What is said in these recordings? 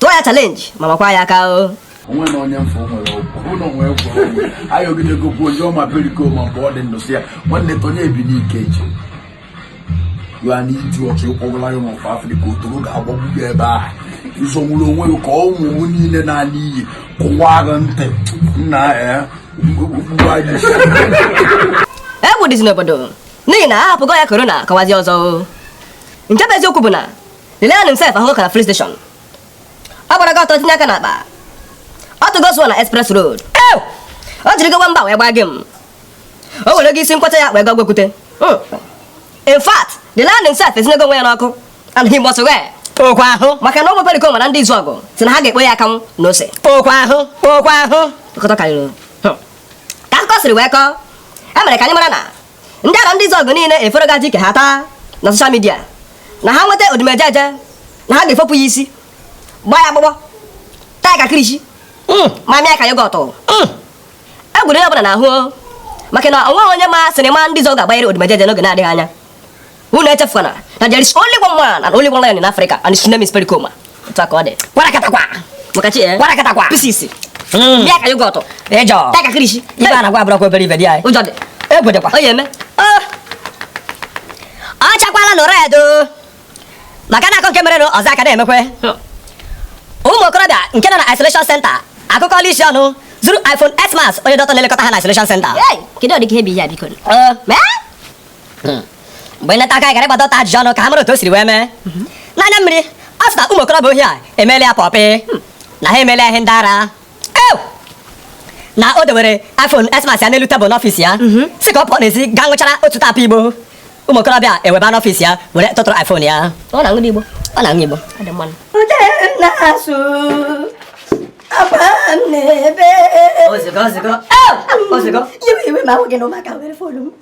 tụọ ya chalenji ma makwa ya aka o onwe na onye mfe nwere ọgwụ na onwe gwụrụ ọgwụ anyị ogidego kwuo onye ọma Pericoma mgbe ọ dị ndụ sị ya nwanne tonye ebi n'ike eji ya na iju ọchị ụkwọgwụ lion of Africa otoro ga-agbagbu gị ebe a ịzọnwụrụ onwe gị ka ụmụ m niile na-ala iyi kụwa gị ntị nna ya okpukpu anyị isi egwu dịzi n'obodo n'ihi na a hapụgo ya korona kọwazi ọzọ o. nke bụ eziokwu bụ na the lion himself ahụgo ọka na filling station. Ọ gbara gị ọtọ tinye aka n'akpa. Ọ tụgo sụọ na express road. Ew! O jiri gị mba wee gbaa gị m. O werego isi nkwọcha ya wee gaa gwekwute. Hmm. In fact, the lion himself esinyego onwe ya n'ọkụ and he must ghee. Okwa ahụ. Maka na ụmụ Pericoma na ndị Izuọgụ sị na ha ga-ekpo ya akanwụ na ose. Okwa ahụ. Okwa ahụ. Nkọtọ karịrị. Hmm. Ka akụkọ siri wee kọọ, e mere ka anyị mara na ndị Arọndịzuọgụ niile eferogaji ka ha taa na soshal midia na ha nweta Odumejeje na ha ga-efopụ ya isi gbaa ya agbụgbọ taa ya ka kirishi hmm. ma mịa ka yogọt hmm. egwu eru onye ọbụla n'ahụ maka na o nweghị onye ma sinima ndị Izuọgụ ga-agbanyere Odumejeje n'oge na-adịghị anya Unu echefukwana na there is only one man and only one lion in Africa and his name is Pericoma. Otu a ka ọ dị. Kwarakatakwa. Maka Chi eh? Kwarakatakwa. Pisisi. Hmm. Mịa ka yogọt. Ịjọ. Taa ka kirishi. Ife a na-agwa abụrọkwa obere ife dị anyị. Ụjọ dị. Egwu dịkwa. Ọ ya-eme. Ah. Ọ chakwala nụrụ edo. Maka na a kọọ nke mere na ọzọ ka na-emekwe. Ụmụ okorobịa nke nọ na isolation center akụkọla isi ọnụ zuru iPhone X Max onye dọkịta na-elekọta ha na isolation center. Kedu ụdị ka ihe bụ ihe a biko? Eh. hmm. mgbe nleta aka gara ịgba dọkịta ajụjụ ọnụ ka ha mara otu o siri wee mee mhm. n'anya mmiri ọ sị na ụmụ okorobịa ohi a emeela ya pọpị hmm. na ha emeela ihe ndị ara na o dewere iPhone X Max ya n'elu tebụl n'ọfịs ya mhm. sị ka ọ pụọ n'ezi gaa ṅụchara otu wrap igbo ụmụ okorobịa eweba n'ọfịs ya were tụtụrụ iPhone ya ọ na-aṅụ igbo ọ na-aṅụ igbo Ozugbo, ozugbo. Ozugbo. Iwe iwe ma ahụ gị na ụmụaka were fonu m.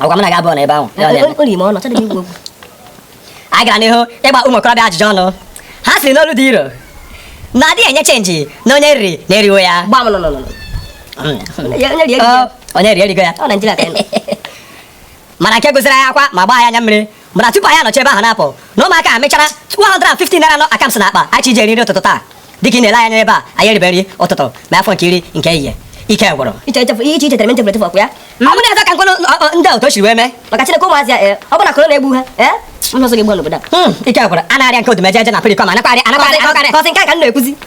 agwa m na ga-abụ na ebe ahụ anyị gara n'ihu ịgba ụmụ okorobịa ajụjụ ọnụ ha sịrị n'olu dị iro na a dịghị enye chenji na onye riri na e riwo ya onye rie erigo ya mana nke gụziri anyị akwa ma gbaa anyị anya mmiri bụ na tupu anyị anọchi ebe ahụ na-apụ na ụmụaka a mechara 150 naira nọ akams n'akpa anyị ji eri nri ụtụtụ taa dịka ị na-ele anya n'ebe a anyị eribe nri ụtụtụ ma ya fọ nke iri nke ehihie ike gwụrụ iche ichetere m m chefuru echefu okwu ya hmm? ọ bụrụ eze ka nkwenụ ndị otu o siri wee mee maka chineke ụmụazị a eh, ọ bụ na korona egbu ha eh? ọzọ gị gba n'obodo a hmm, ike gwụrụ a na-arịa nke Odumejeje na Pericoma anakarị anakarị kọsị nke a ka m na-ekwuzi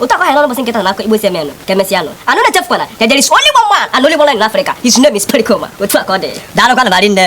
otu akwa hịrọrọ mbọsị nkịta na-akọ Igbo sị emenụ ka emesịa nụ unu echefukwana na there is only one man and only one lion in Africa his name is Pericoma otu a ka ọ dị daalụkwanụ ma rinne